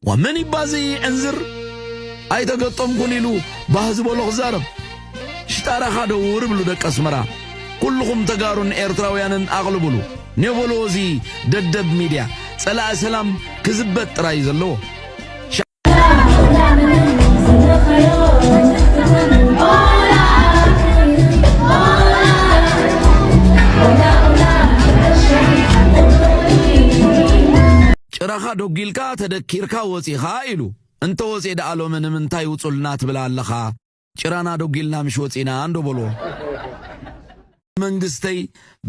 ወመን ይባዚ ዕንዝር ኣይተገጠምኩን ኢሉ ባህ ዝበሎ ክዛረብ ሽጣራኻ ደውር ብሉ ደቂ ኣስመራ ኩልኹም ተጋሩን ኤርትራውያንን ኣቕልብሉ ኔበሎ እዚ ደደብ ሚድያ ጸላኢ ሰላም ክዝበት ጥራይ ዘለዎ ጭራኻ ዶጊልካ ተደኪርካ ወጺኻ ኢሉ እንተ ወጼ ደኣ ሎሚ ንምንታይ ውጹልና ትብል ኣለኻ ጭራና ዶጊልና ምሽ ወጺና እንዶ በልዎ። ብመንግስተይ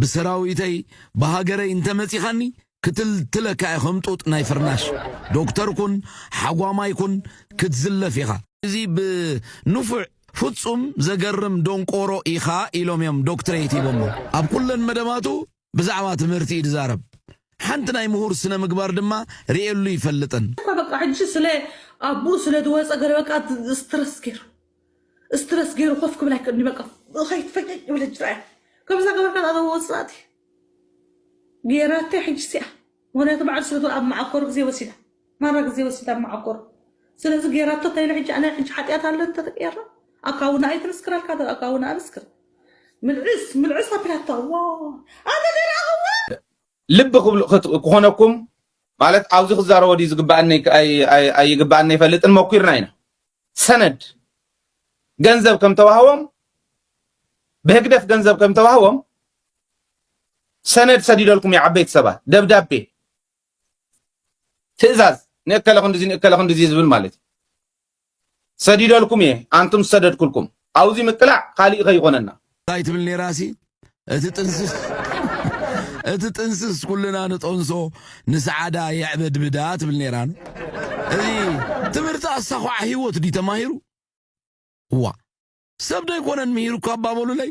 ብሰራዊተይ ብሃገረይ እንተ መጺኻኒ ክትልትለካ እየ ከም ጡጥ ናይ ፍርናሽ። ዶክተር ኩን ሓጓማይ ኩን ክትዝለፍ ኢኻ። እዚ ብ ንፉዕ ፍጹም ዘገርም ዶንቆሮ ኢኻ ኢሎም እዮም ዶክትረይት ሂቦሞ። ኣብ ኩለን መደባቱ ብዛዕባ ትምህርቲ እዩ ዝዛረብ ሓንቲ ናይ ምሁር ስነ ምግባር ድማ ሪኤሉ ኣይፈልጥን። እታ በቃ ሕጂ ስለ ኣቡኡ ስለ ዝወጸ ገለ በቃ ስትረስ ገይሩ ስትረስ ገይሩ ኮፍ ክብል ኣይክእልንዩ በቃ ኸይት ፈገግ ይብል ሕጂ ርኣያ ከምዛ ገበርካ እታ ወጽላእቲ ገይራተይ ሕጂ ሲኣ ምክንያቱ በዓል ሰቱ ኣብ መዓኮር ግዜ ወሲዳ ማራ ግዜ ወሲዳ ኣብ መዓኮር ስለዚ ጌራቶ ታይ ኢሉ ሕጂ ኣነ ሕጂ ሓጥያት ኣሎ እንተ ተቀየርና ኣካውና ኣይ ክምስክረልካ ዶ ኣካውና ኣምስክር ምልዕስ ምልዕስ ኣቢላቶ ዋይ ኣነ ዘይረኣክዋ ልቢ ክኾነኩም ማለት ኣብዚ ክዛረቦ ድዩ ዝግበኣኒ ኣይግበኣኒ ኣይፈልጥን መኲርና ኢና ሰነድ ገንዘብ ከም ተዋህቦም ብህግደፍ ገንዘብ ከም ተዋህቦም ሰነድ ሰዲደልኩም እዩ ዓበይቲ ሰባት ደብዳቤ ትእዛዝ ንእከለ ክንዲዚ ንእከለ ክንዲዚ ዝብል ማለት እዩ ሰዲደልኩም እየ ኣንቱም ዝሰደድኩልኩም ኣውዚ ምቅላዕ ካሊእ ከይኾነና እንታይ ትብል ነይራ ሲ እቲ ጥንስስ እቲ ጥንስስ ኩልና ንጠንሶ ንሰዓዳ የዕበድብዳ ትብል ነይራ ኑ እዚ ትምህርቲ ኣሳኹዓ ህይወት ድዩ ተማሂሩ እዋ ሰብ ዶ ኣይኮነን ምሂሩ እኳ ኣባበሉለይ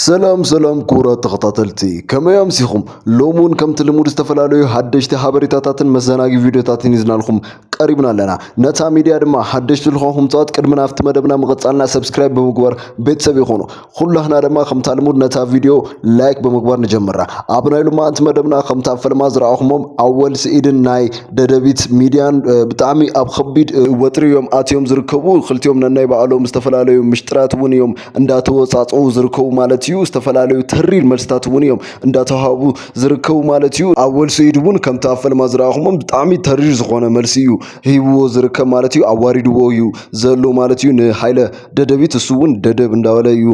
ሰላም ሰላም ክቡራት ተኸታተልቲ ከመይ ኣምሲኹም ሎሚ እውን ከምቲ ልሙድ ዝተፈላለዩ ሓደሽቲ ሓበሬታታትን መዘናጊ ቪድዮታትን ይዝናልኩም ቀሪብና ኣለና ነታ ሚድያ ድማ ሓደሽቲ ልኾንኩም ፀዋት ቅድሚ ናብቲ መደብና ምቕፃልና ሰብስክራይብ ብምግባር ቤተሰብ ይኾኑ ኩላህና ድማ ከምታ ልሙድ ነታ ቪድዮ ላይክ ብምግባር ንጀምራ ኣብ ናይ ሎማዓንቲ መደብና ከምታ ፈለማ ዝረኣኹሞም ኣወል ስኢድን ናይ ደደቢት ሚድያን ብጣዕሚ ኣብ ከቢድ ወጥሪ እዮም ኣትዮም ዝርከቡ ክልቲኦም ነናይ ባዕሎም ዝተፈላለዩ ምሽጥራት እውን እዮም እንዳተወፃፀኡ ዝርከቡ ማለት እዩ። ዝተፈላለዩ ተሪር መልስታት እውን እዮም እንዳተዋሃቡ ዝርከቡ ማለት እዩ። ኣወል ስዒድ እውን ከምቲ ኣብ ፈልማ ዝረኣኹሞ ብጣዕሚ ተሪር ዝኾነ መልሲ እዩ ሂብዎ ዝርከብ ማለት እዩ። ኣዋሪድዎ እዩ ዘሎ ማለት እዩ ንሃይለ ደደቢት እሱ እውን ደደብ እንዳበለ እዩ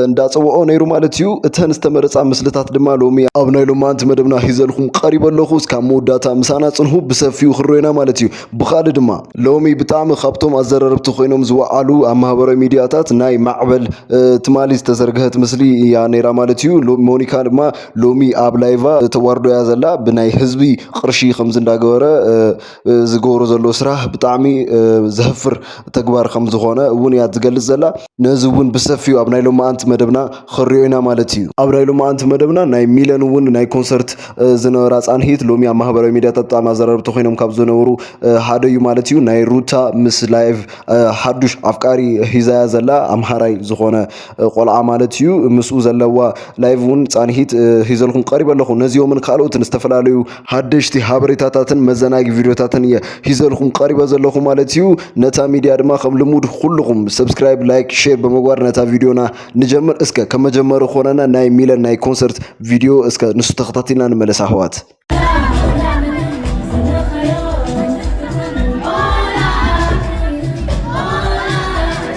እንዳፀወኦ ነይሩ ማለት እዩ። እተን ዝተመረፃ ምስልታት ድማ ሎሚ ኣብ ናይ ሎማንቲ መደብና ሂዘልኹም ቀሪበ ኣለኹ እስካብ መወዳእታ ምሳና ፅንሁ ብሰፊኡ ክረኦና ማለት እዩ። ብኻልእ ድማ ሎሚ ብጣዕሚ ካብቶም ኣዘረርብቲ ኮይኖም ዝወዓሉ ኣብ ማህበራዊ ሚድያታት ናይ ማዕበል ትማሊ ዝተዘርግሀት ምስሊ እያ ነይራ ማለት እዩ። ሎ- ሞኒካ ድማ ሎሚ ኣብ ላይቫ ተዋርዶ እያ ዘላ ብናይ ህዝቢ ቅርሺ ከምዚ እንዳገበረ እ፣ እ፣ ዝገብሮ ዘሎ ስራህ ብጣዕሚ እ፣ ዘህፍር ተግባር ከም ዝኾነ እውን እያ ትገልጽ ዘላ። ነዚ እውን ብሰፊኡ ኣብ ናይ ሎማኣንቲ መደብና ኽንሪኦ ኢና ማለት እዩ። ኣብ ናይ ሎማኣንቲ መደብና ናይ ሚለን እውን ናይ ኮንሰርት ዝነበራ ፃንሒት ሎሚ ኣብ ማህበራዊ ሚዲያታት ብጣዕሚ ኣዘራረብቲ ኮይኖም ካብ ዝነበሩ ሓደ እዩ ማለት እዩ። ናይ ሩታ ምስ ላይቭ ሓዱሽ ኣፍቃሪ ሒዛያ ዘላ ኣምሃራይ ዝኾነ ቆልዓ ማለት እዩ ምስኡ ዘለዋ ላይቭ እውን ፃንሒት ሒዘልኩም ቀሪበ ኣለኹ። ነዚኦምን ካልኦትን ዝተፈላለዩ ሃደሽቲ ሃበሬታታትን መዘናጊ ቪድዮታትን እየ ሂዘልኩም ቀሪበ ዘለኹ ማለት እዩ። ነታ ሚድያ ድማ ከም ልሙድ ኩልኹም ሰብስክራይብ፣ ላይክ፣ ሼር ብምግባር ነታ ቪድዮና ንጀምር። እስከ ከም መጀመሪ ኮነና ናይ ሚለን ናይ ኮንሰርት ቪድዮ እስከ ንሱ ተኸታቲልና ንመለስ ኣሕዋት።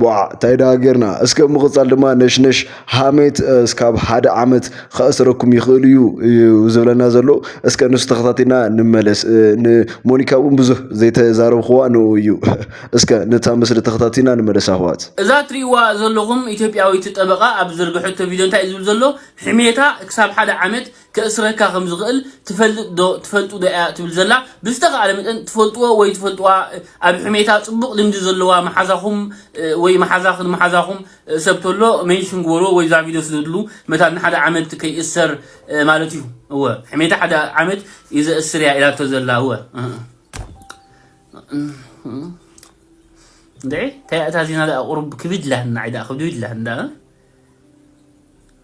ቧዕ እንታይ ደኣ ጌርና እስከ ኣብ ምቕጻል ድማ ነሽነሽ ሃሜት እስካብ ሓደ ዓመት ከእስረኩም ይኽእል እዩ እዩ ዝብለና ዘሎ እስከ ንሱ ተኸታቲልና ንመለስ ንሞኒካ እውን ብዙህ ዘይተዛረብኽዋ ንኡ እዩ እስከ ነታ ምስሊ ተኸታቲልና ንመለስ ኣሕዋት። እዛ ትሪእዋ ዘለኹም ኢትዮጵያዊት ጠበቓ ኣብ ዝዘርገሐቶ ቪድዮ እንታይ እዩ ዝብል ዘሎ፣ ሕሜታ ክሳብ ሓደ ዓመት ከእስረካ ከም ዝኽእል ትፈልጥ ዶ ትፈልጡ ዶ እያ ትብል ዘላ ብዝተኻእለ መጠን ትፈልጥዎ ወይ ትፈልጥዋ ኣብ ሕሜታ ጽቡቕ ልምዲ ዘለዋ መሓዛኹም ወይ መሓዛኽን መሓዛኹም ሰብ ተሎ ሜንሽን ግበርዎ ወይ እዛ ቪድዮ ስደድሉ መታን ንሓደ ዓመት ከይእሰር ማለት እዩ እወ ሕሜታ ሓደ ዓመት እዩ ዘእስር እያ ኢላቶ ዘላ እወ እንዴ ታያእታ ዜና ዳ ቁሩብ ክብድ ላህና ዒዳ ክብድ ላህና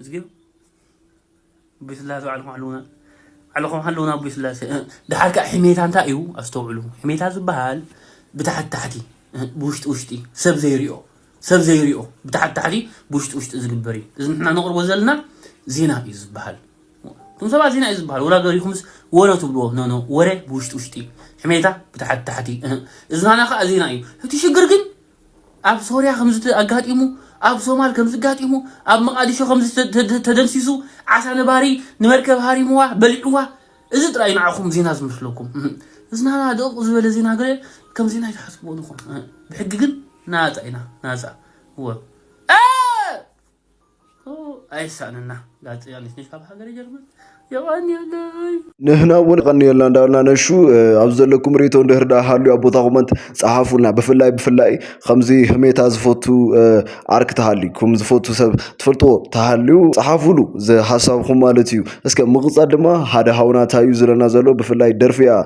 እዝጊዮ ኣቦይ ስላሴ ባዕልኩም ኣለዉና ባዕልኩም ኣለዉና ኣቦይ ስላሴ ድሓር ከዓ ሕሜታ እንታይ እዩ ኣስተውዕሉ ሕሜታ ዝበሃል ብታሕቲ ታሕቲ ብውሽጢ ውሽጢ ሰብ ዘይሪኦ ሰብ ዘይሪኦ ብታሕቲ ታሕቲ ብውሽጢ ውሽጢ ዝግበር እዩ እዚ ንሕና ነቕርቦ ዘለና ዜና እዩ ዝበሃል እቶም ሰባት ዜና እዩ ዝበሃል ወላ ገሪኹምስ ወረ ትብልዎ ኖኖ ወረ ብውሽጢ ውሽጢ ሕሜታ ብታሕቲ ታሕቲ እዝናና ከዓ ዜና እዩ እቲ ሽግር ግን ኣብ ሶርያ ከምዚ ኣጋጢሙ፣ ኣብ ሶማል ከምዚ ኣጋጢሙ፣ ኣብ መቓዲሾ ከምዚ ተደምሲሱ፣ ዓሳ ነባሪ ንመርከብ ሃሪምዋ፣ በሊዕዋ፣ እዚ ጥራይ እዩ ንዓኹም ዜና ዝመስለኩም። እዝናና ድቕቕ ዝበለ ዜና ገለ ከም ዜና ኣይትሓስብዎን ኢኹም። ብሕጊ ግን ናጻ ኢና፣ ናጻ። እወ። ኣይሳንና ጋዜጠኛ ነሽ ካብ ሃገረ ጀርመን የቀንየለይ ንሕና እውን ቀንየልና እንዳበልና ነሹ ኣብዚ ዘለኩም ርኢቶ እንድህር ዳ ሃልዩ ኣብ ቦታ ኮመንት ፀሓፉልና ብፍላይ ብፍላይ ከምዚ ህሜታ ዝፈቱ ዓርክ ተሃልዩኩም ዝፈቱ ሰብ ትፈልጥዎ ተሃልዩ ፀሓፉሉ ዝሃሳብኩም ማለት እዩ እስከ ምቕፃል ድማ ሓደ ሃውና እንታይ እዩ ዝለና ዘሎ ብፍላይ ደርፊ እያ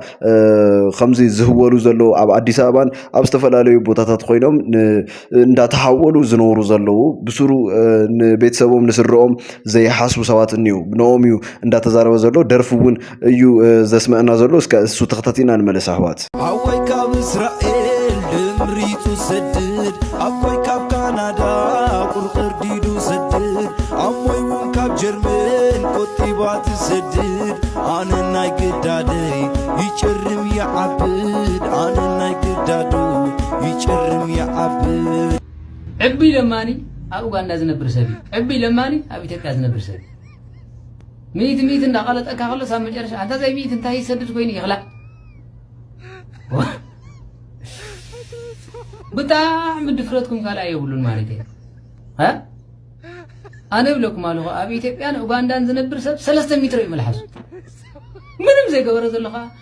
ከምዚ ዝህወሉ ዘሎ ኣብ ኣዲስ ኣበባን ኣብ ዝተፈላለዩ ቦታታት ኮይኖም እንዳተሓወሉ ዝነብሩ ዘለዉ ብስሩ ንቤተሰቦም ንስድርኦም ዘይሓስቡ ሰባት እኒዉ ብንኦም እዩ እንዳተዛረበ ዘሎ ደርፊ እውን እዩ ዘስመዐና ዘሎ እስከ እሱ ተኸታቲልና ንመለስ ኣሕዋት ሓወይ ካብ እስራኤል ድምሪቱ ሰድድ ኣቦይ ካብ ካናዳ ቁር ቅርዲዱ ሰድድ ኣሞይ እውን ካብ ጀርመን ቆጢባ ትሰድድ ኣነ ናይ ግዳደይ ይጭርም ይዓብድ ኣነ ናይ ግዳዱ ይጭርም ይዓብር። ዕቡይ ለማኒ ኣብ ኡጋንዳ ዝነብር ሰብ እዩ ዕቡይ ለማኒ ኣብ ኢትዮጵያ ዝነብር ሰብ እዩ ሚእቲ ሚእቲ እንዳቀለጠካ ከሎስ ኣብ መጨረሻ ኣንታ ዘይ ሚእቲ እንታይ ይሰድድ ኮይኑ ይክላእ ብጣዕሚ ድፍረትኩም ካልኣ የብሉን ማለት እዩ ኣነ ይብለኩም ኣለኹ ኣብ ኢትዮጵያን ኡጋንዳን ዝነብር ሰብ ሰለስተ ሚትሮ እዩ መልሓሱ ምንም ዘይገበረ ዘሎ ከዓ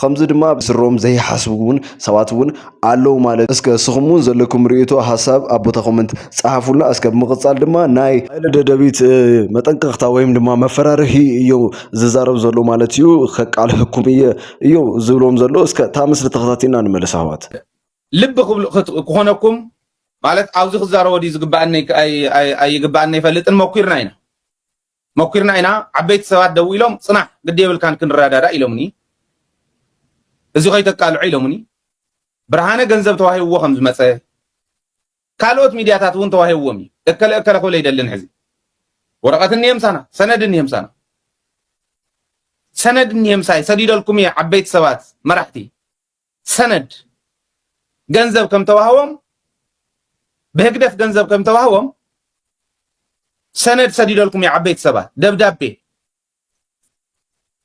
ኸምዚ ድማ ብስሮም ዘይሓስቡ እውን ሰባት እውን ኣለዉ ማለት እስከ እስኹም እውን ዘለኩም ርእይቶ ሀሳብ ኣብ ቦታ ኮመንት ጸሓፉልና እስከ ብምቕጻል ድማ ናይ ኃይለ ደደቢት መጠንቀቕታ ወይም ድማ መፈራርሂ እዮ ዝዛረብ ዘሎ ማለት እዩ ከቃልሐኩም እየ እዮ ዝብሎም ዘሎ እስከ እታ ምስሊ ተኸታቲልና ንመለስ ኣሕዋት ልቢ ክኾነኩም ማለት ኣብዚ ክዛረቦ ድዩ ዝግበኣኒ ኣይግበኣኒ ኣይፈልጥን ሞኪርና ኢና። መኲርና ኢና ዓበይቲ ሰባት ደዊሎም ጽናሕ ግዲ የብልካን ክንረዳዳእ ኢሎምኒ እዚ ከይተቃልዖ ኢሎምኒ ብርሃነ ገንዘብ ተዋሂብዎ ከም ዝመጸ ካልኦት ሚድያታት እውን ተዋሂብዎም እዩ እከለ እከለ ክብል ኣይደልን ሕዚ ወረቐት እኒሄ ምሳና ሰነድ እኒሄ ምሳና ሰነድ እኒሄ ምሳይ ሰዲደልኩም እየ ዓበይቲ ሰባት መራሕቲ ሰነድ ገንዘብ ከም ተዋህቦም ብህግደፍ ገንዘብ ከም ተዋህቦም ሰነድ ሰዲደልኩም እዩ ዓበይቲ ሰባት ደብዳቤ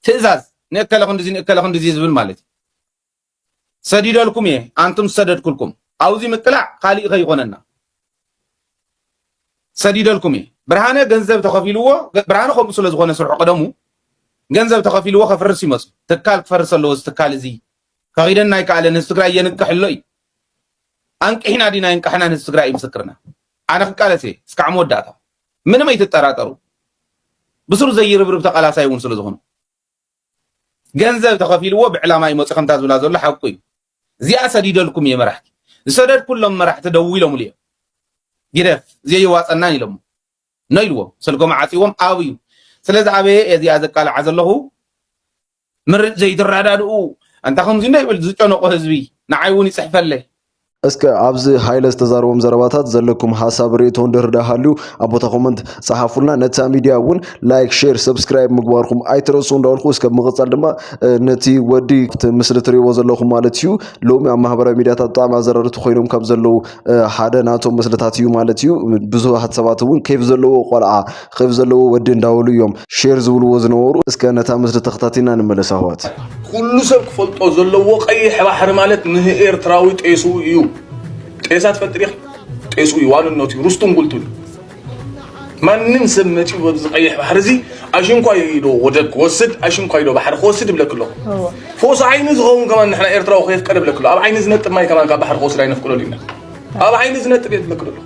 ትእዛዝ ንእከለ ክንዲዚ ንእከለ ክንዲዚ ዝብል ማለት እዩ ሰዲደልኩም እየ ኣንቱም ዝሰደድኩልኩም ኣብዚ ምቅላዕ ካሊእ ከይኾነና ሰዲደልኩም እየ ብርሃነ ገንዘብ ተኸፊልዎ ብርሃነ ከምኡ ስለ ዝኾነ ስርሑ ቀደሙ ገንዘብ ተኸፊልዎ ከፍርስ ይመስሉ ትካል ክፈርስ ኣለዎ እዚ ትካል እዚ ፈቒደና ኣይከኣለን ህዝቢ ትግራይ የንቅሕ ኣሎ እዩ ኣንቅሒና ዲና የንቃሕናን ህዝቢ ትግራይ እዩ ምስክርና ኣነ ክቃለስ እየ እስካዕ መወዳእታ ምንም ኣይትጠራጠሩ ብስሩ ዘይርብርብ ተቃላሳይ እውን ስለ ዝኾኑ ገንዘብ ተኸፊልዎ ብዕላማ እዩ መጽዩ ከምታ ዝብላ ዘሎ ሓቁ እዩ እዚኣ ሰዲደልኩም እየ መራሕቲ ዝሰደድኩሎም መራሕቲ ደዊሎምሉ እዮም ግደፍ ዘየዋጸናን ኢሎሞ ኖ ኢልዎም ስልኮም ዓጽዎም ኣብዩ ስለዚ ኣበየ እዚኣ ዘቃልዓ ዘለኹ ምርጭ ዘይትረዳድኡ ኣንታ ከምዚ እንዶ ይብል ዝጨነቆ ህዝቢ ንዓይ እውን ይጽሕፈለይ እስከ ኣብዚ ሃይለ ዝተዛረቦም ዘረባታት ዘለኩም ሀሳብ ርእቶ እንድህር ዳሃልዩ ኣብ ቦታ ኮመንት ጸሓፉልና። ነታ ሚድያ እውን ላይክ፣ ሼር፣ ሰብስክራይብ ምግባርኩም ኣይትረስዑ እንዳበልኩ እስከ ብምቕጻል ድማ ነቲ ወዲ እቲ ምስሊ ትርእይዎ ዘለኹም ማለት እዩ ሎሚ ኣብ ማህበራዊ ሚድያታት ብጣዕሚ ኣዘረርቲ ኮይኖም ካብ ዘለዉ ሓደ ናቶም ምስልታት እዩ ማለት እዩ። ብዙሃት ሰባት እውን ኬፍ ዘለዎ ቆልዓ ኽብ ዘለዎ ወዲ እንዳበሉ እዮም ሼር ዝብልዎ ዝነበሩ እስከ ነታ ምስሊ ተኸታቲልና ንመለስ ኣህዋት። ኩሉ ሰብ ክፈልጦ ዘለዎ ቀይሕ ባሕሪ ማለት ንህኤርትራዊ ጤስኡ ኢዩ ጤሳ ትፈልጢ ዲኺ ጤስኡ ኢዩ ዋንነቱ ኢዩ ርስቱን ጉልቱን ኢዩ ማንም ሰብ መጺኡ በብዚ ቀይሕ ባሕሪ እዚ ኣሽንኳይ ኢዶ ወደብ ክወስድ ኣሽንኳይ ኢዶ ባሕሪ ክወስድ ይብለኪ ኣለኹ ፎስ ዓይኒ ዝኸውን ከማን ንሕና ኤርትራዊ ከየፍቀደ ይብለኪ ኣሎ ኣብ ዓይኒ ዝነጥብ ማይ ከማን ካብ ባሕሪ ክወስድ ኣይነፍቅደሉ ኢና ኣብ ዓይኒ ዝነጥብ እየ ዝብለኪ ዘለኹ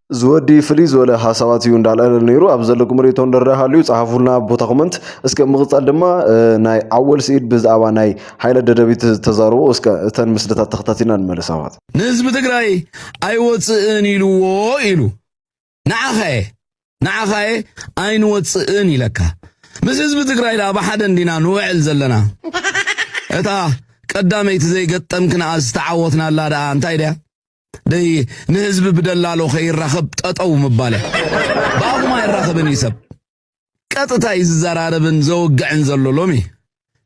እዚ ወዲ ፍልይ ዝበለ ሓሳባት እዩ እንዳልዐለ ነይሩ ኣብ ዘለኩም ርእቶ እንደረ ሃልዩ ጸሓፉልና ኣብ ቦታ ኮመንት እስከ ምቕጻል ድማ ናይ ዓወል ስኢድ ብዛዕባ ናይ ሓይለ ደደቢት ዝተዛረቦ እስከ እተን ምስልታት ተኸታቲልና ንመለስ ኣሕዋት ንህዝቢ ትግራይ ኣይወጽእን ኢልዎ ኢሉ ንዓኻየ ንዓኻየ ኣይንወጽእን ኢለካ ምስ ህዝቢ ትግራይ ደኣ ብሓደ እንዲና ንውዕል ዘለና እታ ቀዳመይቲ ዘይገጠምክንኣ ዝተዓወትናላ ደኣ እንታይ ደያ ደይ ንህዝቢ ብደላሎ ከይራኸብ ጠጠው ምባለ ብኣኹም ኣይራኸብን እዩ ሰብ ቀጥታ እዩ ዝዘራረብን ዘወግዕን ዘሎ ሎሚ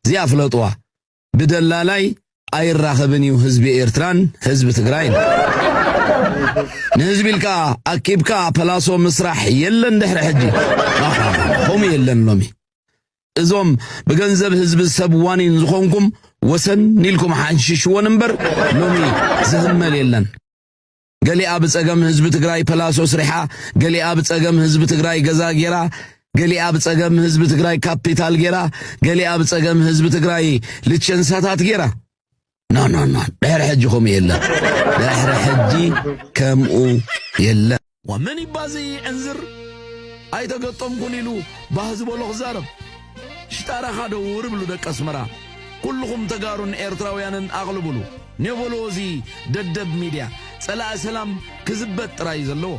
እዚኣ ፍለጥዋ ብደላላይ ኣይራኸብን እዩ ህዝቢ ኤርትራን ህዝቢ ትግራይን ንህዝቢ ኢልካ ኣኪብካ ፐላሶ ምስራሕ የለን ድሕሪ ሕጂ ከምኡ የለን ሎሚ እዞም ብገንዘብ ህዝቢ ሰብ ዋኒን ዝኾንኩም ወሰን ኢልኩም ሓንሽሽዎን እምበር ሎሚ ዝህመል የለን። ገሊኣ ብጸገም ህዝቢ ትግራይ ፐላሶ ስሪሓ፣ ገሊኣ ብጸገም ህዝቢ ትግራይ ገዛ ጌራ፣ ገሊኣ ብጸገም ህዝቢ ትግራይ ካፒታል ጌራ፣ ገሊኣ ብጸገም ህዝቢ ትግራይ ልቸንሳታት ጌራ። ኖ ኖ ኖ ድሕሪ ሕጂ ከምኡ የለን ድሕሪ ሕጂ ከምኡ የለን ወመን ይባዚ ዕንዝር ኣይተገጠምኩን ኢሉ ባህ ዝበሎ ክዛረብ ሽጣራኻ ደውር ብሉ ደቂ ኣስመራ ኩልኹም ተጋሩን ኤርትራውያንን ኣቕልብሉ ኔቮሎ እዚ ደደብ ሚድያ ጸላኢ ሰላም ክዝበት ጥራይ እዩ ዘለዎ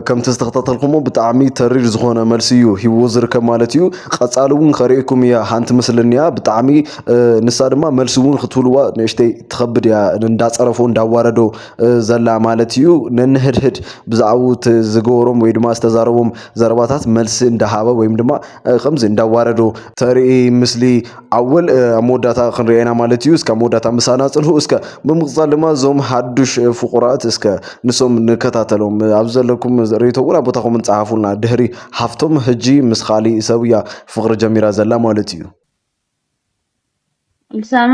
ከምቲ ዝተኸታተልኩሞ ብጣዕሚ ተሪር ዝኾነ መልሲ እዩ ሂዎ ዝርከብ ማለት እዩ ቀፃሊ እውን ከርእየኩም እያ ሓንቲ ምስሊ እኒኣ ብጣዕሚ ንሳ ድማ መልሲ እውን ክትብልዋ ንእሽተይ ትኸብድ እያ እንዳፀረፎ እንዳዋረዶ ዘላ ማለት እዩ ነንህድህድ ብዛዕባኡ ዝገበሮም ወይ ድማ ዝተዛረቦም ዘረባታት መልሲ እንዳሃበ ወይም ድማ ከምዚ እንዳዋረዶ ተርኢ ምስሊ ኣወል ኣብ መወዳእታ ክንሪኦ ኢና ማለት እዩ እስከ መወዳእታ ምሳና ፅንሑ እስከ ብምቕፃል ድማ እዞም ሓዱሽ ፍቑራት እስከ ንሶም ንከታተሎም ኣብ ዘለኩም ርእቶ እውን ኣብ ቦታኹም ንፀሓፉልና ድህሪ ሃፍቶም ሕጂ ምስ ካሊእ ሰብ እያ ፍቕሪ ጀሚራ ዘላ ማለት እዩ ልሳማ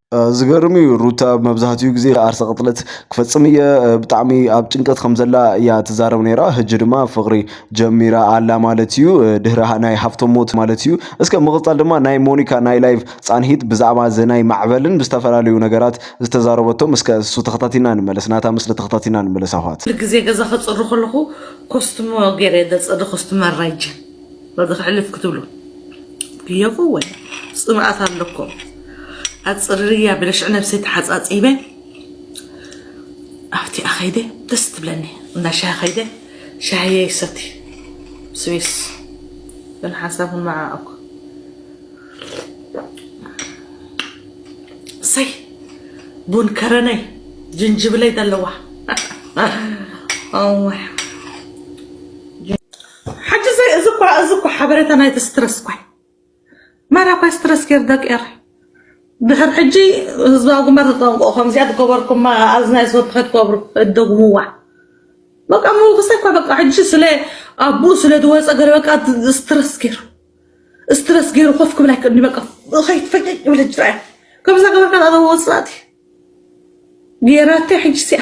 ዝገርም እዩ ሩታ መብዛሕትኡ ግዜ ዓርሰ ቅትለት ክፈፅም እየ ብጣዕሚ ኣብ ጭንቀት ከም ዘላ እያ ትዛረብ ነይራ ሕጂ ድማ ፍቕሪ ጀሚራ ኣላ ማለት እዩ ድህሪ ናይ ሃፍቶም ሞት ማለት እዩ እስከ ምቕፃል ድማ ናይ ሞኒካ ናይ ላይቭ ፃንሒት ብዛዕባ እዚ ናይ ማዕበልን ብዝተፈላለዩ ነገራት ዝተዛረበቶም እስከ እሱ ተኸታቲና ንመለስ ናታ ምስሊ ተኸታቲና ንመለስ ኣሕዋት። ኩሉ ግዜ ገዛ ክጽሪ ከለኹ ኮስትሞ ገይረ እየ ዘጽሪ ኮስትመር ራይጅ። በዚ ክሕልፍ ክትብሉ ክየቁ ወይ ፅምኣት ኣለኩም ኣፅርርያ ብለሽዕ ነብሰይ ተሓፃፂበ ኣብቲ ኣኸይደ ደስ ትብለኒ እንዳ ሻሂ ከይደ ሻሂየ ይሰቲ ስዊስ ግን ሓንሳብ ንመዓኣኩ ሰይ ቡን ከረነይ ጅንጅብለይ ዘለዋ ሕጂ ዘይ እዚ እኳ እዚ እኳ ሓበሬታ ናይቲ ስትረስ እኳ ማራ እኳ ስትረስ ገይር ደቂ ኤረ ድሕር ሕጂ ህዝባዊ ግንባር ተጠንቀቑ ከምዚኣ ትገበርኩማ ኣዝናይ ስወርቲ ከትገብሩ እደግምዋ በቃ ምውክሰ እኳ በቃ ሕጂ ስለ ኣቡኡ ስለ ዝወፀ ገለ በቃ ስትረስ ገይሩ ስትረስ ገይሩ ኮፍ ክብል ኣይክእልኒ በቃ ከይትፈይጠ ይብል ሕጂ ራእያ ከምዛ ገበርካ ዛዕባ ወፃእቲ ገይራተይ ሕጂ ሲኣ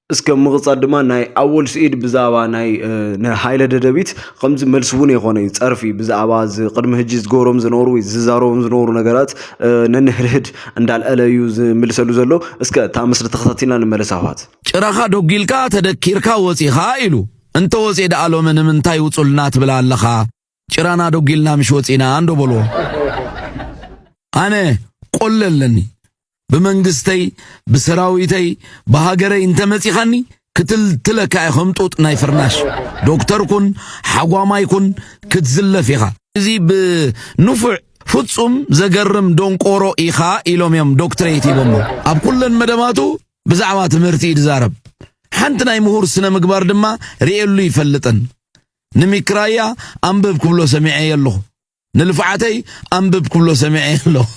እስከ ምቕጻል ድማ ናይ ኣወል ስዒድ ብዛዕባ ናይ ንሃይለ ደደቢት ከምዚ መልሲ እውን የኾነ እዩ ጸርፊ ብዛዕባ ቅድሚ ህጂ ዝገብሮም ዝነበሩ ወይ ዝዛረቦም ዝነበሩ ነገራት ነንህድህድ እንዳልዐለ እዩ ዝምልሰሉ ዘሎ እስከ እታ ምስሊ ተኸታቲልና ንመለስ ኣሕዋት ጭራኻ ዶጊልካ ተደኪርካ ወጺኻ ኢሉ እንተወጽኤ ደኣ ሎሚ ንምንታይ ውጹልና ትብል ኣለኻ ጭራና ዶጊልና ምሽ ወጺና እንዶ በልዎ ኣነ ቆለ ኣለኒ ብመንግስተይ ብሰራዊተይ ብሃገረይ እንተመጺኻኒ ክትልትለካ እየ ከም ጡጥ ናይ ፍርናሽ ዶክተር ኩን ሓጓማይ ኩን ክትዝለፍ ኢኻ እዚ ብንፉዕ ፍጹም ዘገርም ዶንቆሮ ኢኻ ኢሎም እዮም ዶክትሬት ሂቦሞ ኣብ ኩለን መደባቱ ብዛዕባ ትምህርቲ እዩ ዝዛረብ ሓንቲ ናይ ምሁር ስነ ምግባር ድማ ርእየሉ ይፈልጥን ንሚክራያ ኣንብብ ክብሎ ሰሚዐዮ ኣለኹ። ንልፍዓተይ ኣንብብ ክብሎ ሰሚዐዮ ኣለኹ።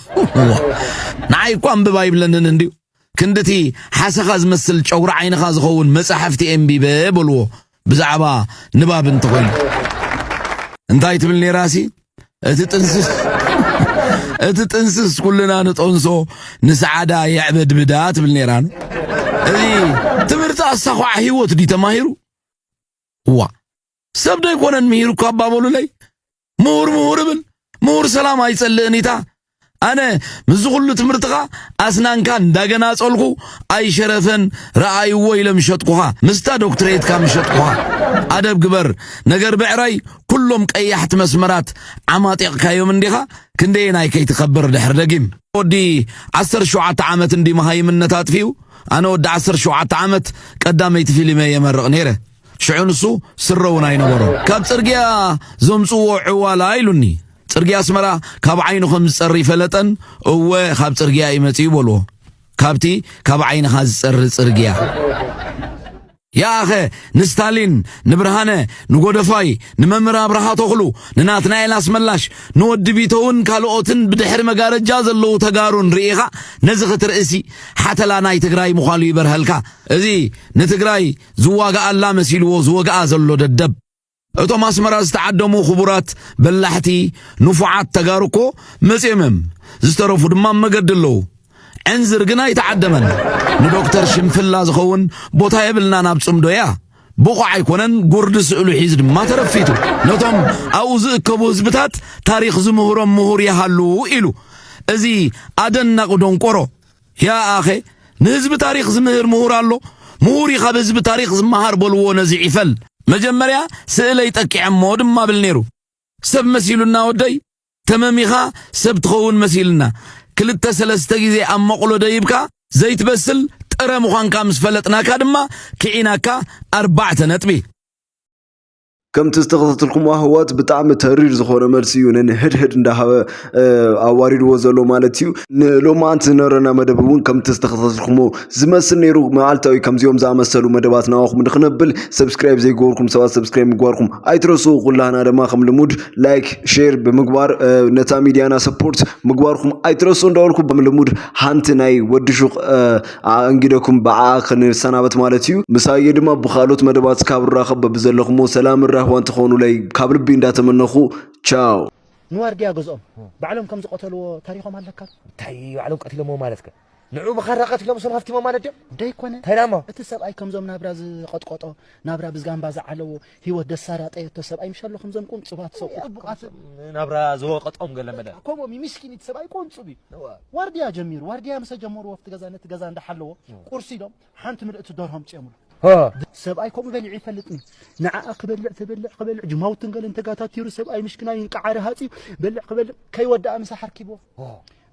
ንዓይ እኳ ኣንብብ ኣይብለንን እንድዩ። ክንድቲ ሓሰኻ ዝመስል ጨጉሪ ዓይንኻ ዝኸውን መጻሕፍቲ ኤንቢበ በልዎ ብዛዕባ ንባብ እንተኾይኑ። እንታይ ትብል ነይራሲ እቲ ጥንስስ እቲ ጥንስስ ኩልና ንጠንሶ ንሰዓዳ የዕበድብዳ ትብል ነይራን እዚ ትምህርቲ ኣሳኳዕ ህይወት ድዩ ተማሂሩ እዋ ሰብ ዶ ኣይኮነን ምሂሩ እኳ ኣባበሉለይ ምሁር ምሁር እብል ምሁር ሰላም ኣይጸልእን ኢታ ኣነ ምስዚ ኩሉ ትምህርትኻ ኣስናንካ እንዳገናጸልኩ ኣይሸረፈን ረኣይዎ ኢለ ምሸጥኩኻ ምስታ ዶክትሬትካ ምሸጥኩኻ ኣደብ ግበር ነገር ብዕራይ ኩሎም ቀያሕቲ መስመራት ዓማጢቕካዮም እንዲኻ ክንደየናይ ከይትከብር ድሕሪ ደጊም ወዲ ዓሰርተ ሸውዓተ ዓመት እንዲ መሃይምነት ኣጥፊኡ ኣነ ወዲ ዓሰርተ ሸውዓተ ዓመት ቀዳመይቲ ፊሊመይ የመርቕ ነይረ። ሽዑ ንሱ ስረ እውን ኣይነበሮን። ካብ ጽርግያ ዘምጽዎ ዕዋላ ኢሉኒ። ጽርግያ ኣስመራ ካብ ዓይኑ ከም ዝጸሪ ፈለጠን። እወ ካብ ጽርግያ እዩ መጺኡ በልዎ። ካብቲ ካብ ዓይንኻ ዝጸሪ ጽርግያ። ያኣኸ ንስታሊን፣ ንብርሃነ፣ ንጎደፋይ፣ ንመምህር ኣብርሃ ተኽሉ፣ ንናትናኤል ኣስመላሽ፣ ንወዲ ቢተውን ካልኦትን ብድሕሪ መጋረጃ ዘለዉ ተጋሩን ርኢኻ ነዚ ክትርእሲ ሓተላ ናይ ትግራይ ምዃሉ ይበርሀልካ እዚ ንትግራይ ዝዋጋኣላ መሲልዎ ዝወግኣ ዘሎ ደደብ እቶም ኣስመራ ዝተዓደሙ ክቡራት በላሕቲ ንፉዓት ተጋሩ እኮ መጺኦም እዮም ዝተረፉ ድማ መገዲ ኣለዉ ዕንዝር ግን ኣይተዓደመን ንዶክተር ሽንፍላ ዝኸውን ቦታ የብልናን ኣብ ጽምዶ እያ ብቑዕ ኣይኮነን ጉርዲ ስእሉ ሒዝ ድማ ተረፊቱ ነቶም ኣብኡ ዝእከቡ ህዝብታት ታሪኽ ዝምህሮም ምሁር ይሃሉ ኢሉ እዚ ኣደናቂ ዶንቆሮ ያኣኸ ንህዝቢ ታሪኽ ዝምህር ምሁር ኣሎ ምሁር ካብ ህዝቢ ታሪኽ ዝመሃር በልዎ ነዚ ዒፈል መጀመርያ ስእለይ ጠቂዐሞ ድማ ብል ነይሩ ሰብ መሲሉና ወደይ ተመሚኻ ሰብ ትኸውን መሲልና ክልተ ሰለስተ ግዜ ኣብ መቕሎ ደይብካ ዘይትበስል ጥረ ምዃንካ ምስ ፈለጥናካ ድማ ክዒናካ ኣርባዕተ ነጥቢ ከምቲ ዝተኸታተልኩሞ ኣህዋት ብጣዕሚ ተሪር ዝኾነ መልሲ እዩ ንንህድህድ እንዳሃበ ኣዋሪድዎ ዘሎ ማለት እዩ ንሎማዓንቲ ዝነበረና መደብ እውን ከምቲ ዝተኸታተልኩሞ ዝመስል ነይሩ መዓልታዊ ከምዚኦም ዝኣመሰሉ መደባት ናባኹም ንክነብል ሰብስክራይብ ዘይገበርኩም ሰባት ሰብስክራይብ ምግባርኩም ኣይትረሱ ኩላህና ድማ ከም ልሙድ ላይክ ሼር ብምግባር እ፣ ነታ ሚድያና ሰፖርት ምግባርኩም ኣይትረሱ እንዳበልኩ ከም ልሙድ ሓንቲ ናይ ወዲ ሹቕ እ፣ ኣኣንጊደኩም ብዓኣ ክንሰናበት ማለት እዩ። ምሳየ ድማ ብካልኦት መደባት ስካብ ንራኸብ በብዘለኹሞ ሰላምን ራህዋን ትኾኑለይ ካብ ልቢ እንዳተመነኹ ቻው። ንዋርድያ ገዝኦም ባዕሎም ከም ዝቀተልዎ ታሪኾም ኣለካ። እንታይ ባዕሎም ቀቲሎምዎ ማለትከ ንዕኡ ብኻራ ቀቲሎም ሰብ ሃፍቲሞም ማለት ድዮም? ደይኮነ እንታይ ዳሞ? እቲ ሰብኣይ ከምዞም ናብራ ዝቀጥቀጦ ናብራ ብዝጋምባ ዝዓለዎ ሂወት ደሳለ ኣጠየቶ ሰብኣይ ምሽ ኣሎ ከምዞም ቁንጹባት ሰው ጥቡቃት ናብራ ዝወቀጦም ገለ መለ ከምኦም እዩ ምስኪን እቲ ሰብኣይ ቆንጹብ እዩ ዋርድያ ጀሚሩ ዋርድያ ምሰ ጀመሩ ወፍቲ ገዛ ነቲ ገዛ እንዳሓለዎ ቁርሲ ኢሎም ሓንቲ ምልእቲ ደርሆ ኣምጺኦምሉ ሰብኣይ ከምኡ በሊዑ ይፈልጥኒ ንዓኣ ክበልዕ ተበልዕ ክበልዕ ጅማውትን ገለን ተጋታቲሩ ሰብኣይ ምሽክናይ እንቃዓሪ ሃጺ በልዕ ክበልዕ ከይወዳኣ ምሳሕ ኣርኪብዎ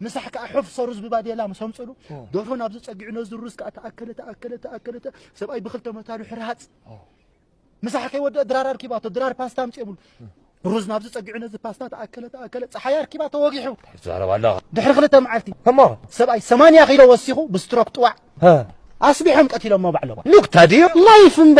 ምሳሕ ከዓ ሑፍ ሰሩዝ ብባዴላ ምስ ኣምፅሉ ደርሆ ናብዚ ፀጊዑ ነዚ ሩዝ ከዓ ተኣከለ ተኣከለ ተኣከለ ሰብኣይ ብክልተ መታሉ ሕርሃፅ ምሳሕ ከይወደአ ድራር ኣርኪባቶ ድራር ፓስታ ኣምፅኦምሉ ሩዝ ናብዚ ፀጊዑ ነዚ ፓስታ ተኣከለ ተኣከለ ፀሓይ ኣርኪባ ተወጊሑ ትዛረብ ኣለኻ ድሕሪ ክልተ መዓልቲ እሞ ሰብኣይ ሰማንያ ኪሎ ወሲኹ ብስትሮክ ጥዋዕ ኣስቢሖም ቀቲሎሞ ባዕሎም ሉክታ ድዩ ላይፍ እምበ